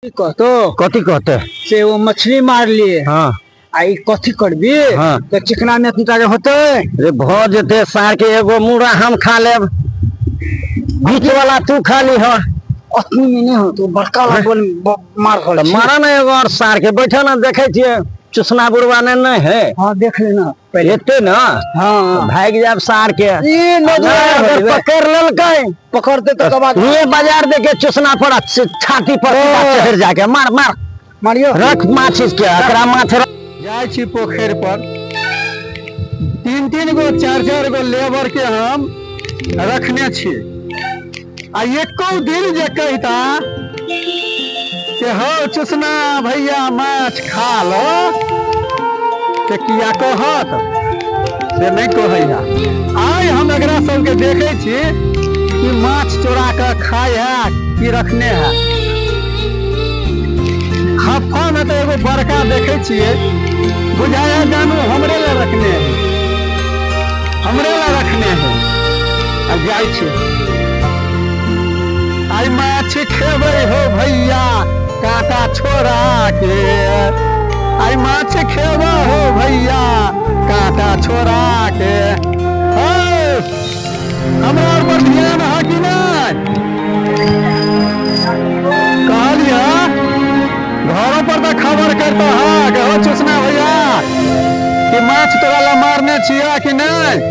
की कहतो कथी कहते से वो मछली मार लिए हाँ आ ई कथी करबी हाँ। तो चिकना में तुता के होते रे भ जेते सार के एगो मुड़ा हम खा लेब बीच वाला तू खा ली हो अतनी में नहीं हो तो बड़का वाला बोल ब- मार हो तो मारा ना एगो और सार के बैठे ना देखे छिए चुसना बुढ़वा ने नहीं है हाँ देख लेना पहिले एते ना हाँ भाग जाब सार के ई नजर नहीं, अगर नहीं। पकड़ ललकै पकड़ते तो कबा ये बाजार देखे चुसना पड़ा छ- छाती पर सीधा चढ़ जाके मार मार मारियो रख माछ के एकरा माथ रख जाइ छी पोखरि पर तीन तीन गो चार चार गो लेबर के हम रखने छी आ एको दिन जे कहता कि हौ चुसना भैया माछ खा लो से किया कहत से नहीं कहैया आइ हम एकरा सबके देखे छी कि माछ चोरा के खाय है कि रखने है हफ्फा में तो एगो बड़का देखे छियै बुझाया जानू हमरे ले रखने है हमरे ले रखने है अब जाइ छी आई माछ खेबै हो भैया काका छोरा के आई माछ खेबै हो भैया काका छोरा के हो हमरा और पर ध्यान है कि नहीं कहलिया घरों पर तो खबर करता है कि हो चुसना भैया कि माछ तोरा ला मारने छिया कि नहीं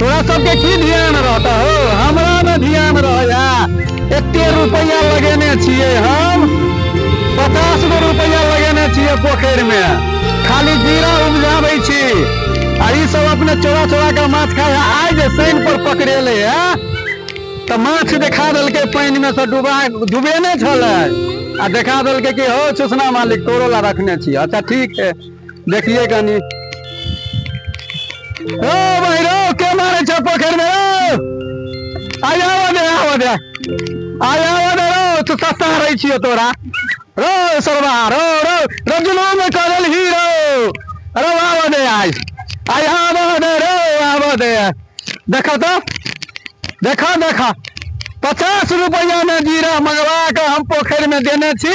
तोरा सबके की ध्यान रहता हो हमरा न ध्यान रहया एते रुपया लगेने छियै हम पचास गो रुपया लगेने छियै पोखरि मे खाली जीरा उपजाबै छी आ ई सब अपने चोरा चोरा के माछ खाय है। आइ जे शनि पर पकड़ेले है तऽ माछ देखा देलकै पानि मे से डूबा डूबेने छलै आ देखा देलकै कि हो चुसना मालिक तोरो ला रखने छी अच्छा ठीक है देखिए कनी ओ भाई रो के मारे छ पोखर में रो आ जाओ दे आओ दे आ जाओ दे रो तो सस्ता रही छियो तोरा रो सरवा रो रो रजनो में करल हीरो रो आओ दे आज आ जाओ दे रो आओ दे देखो तो देखो देखो पचास रुपया में जीरा मंगवा के हम पोखर में देने छी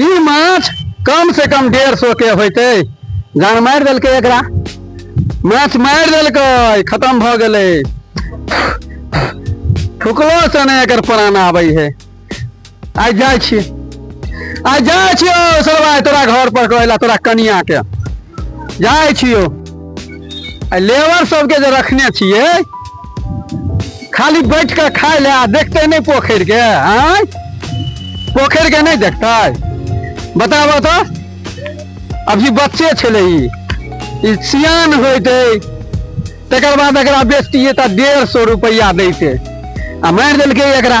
ई माछ कम से कम डेढ़ सौ के होते जान मारि देलकै एकरा माछ मारि देलकै खत्म भऽ गेलै फुकलो से नहि एकर प्राण आबै है आइ जाइ छी आइ जाइ छियो सरबा तोरा घर पर कहला तोरा कनिया के जाइ छियो आ लेबर सबके जे रखने छियै खाली बैठ के खाए ले देखते नहीं पोखर के आय पोखर के नहीं देखते बताबो तो अभी बच्चे छले ई सियान होते तकर बाद एकरा बेचतिए तऽ डेढ़ सौ रुपया दैते आ मारि देलकै एकरा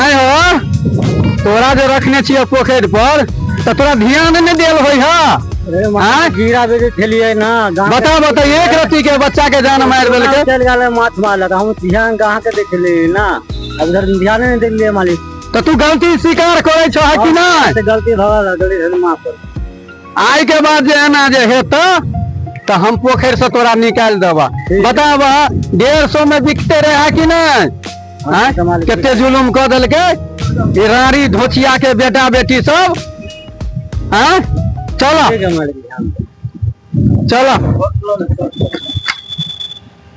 आय हो तोरा जो रखने छियै पोखरि पर तऽ तोरा ध्यान नहि देल होइ है आय गिरा दे खेलिए ना गाँव बता बता एक रति के बच्चा के जान मारि के- देलकै चल गया माछ मारलक हम ध्यान कहाँ के देख ले ना अब उधर ध्यान नहीं देख लिए मालिक तऽ तू गलती स्वीकार करै छह कि नहि से गलती भगल गलती माफ कर आय के बाद जे एना जे हेता तो हम पोखर से तोरा निकाल देबा बताब डेढ़ सौ में बिकते रहे कि नहीं कते जुलूम कर दिल के रानी धोचिया के बेटा बेटी सब हाँ? चलो चलो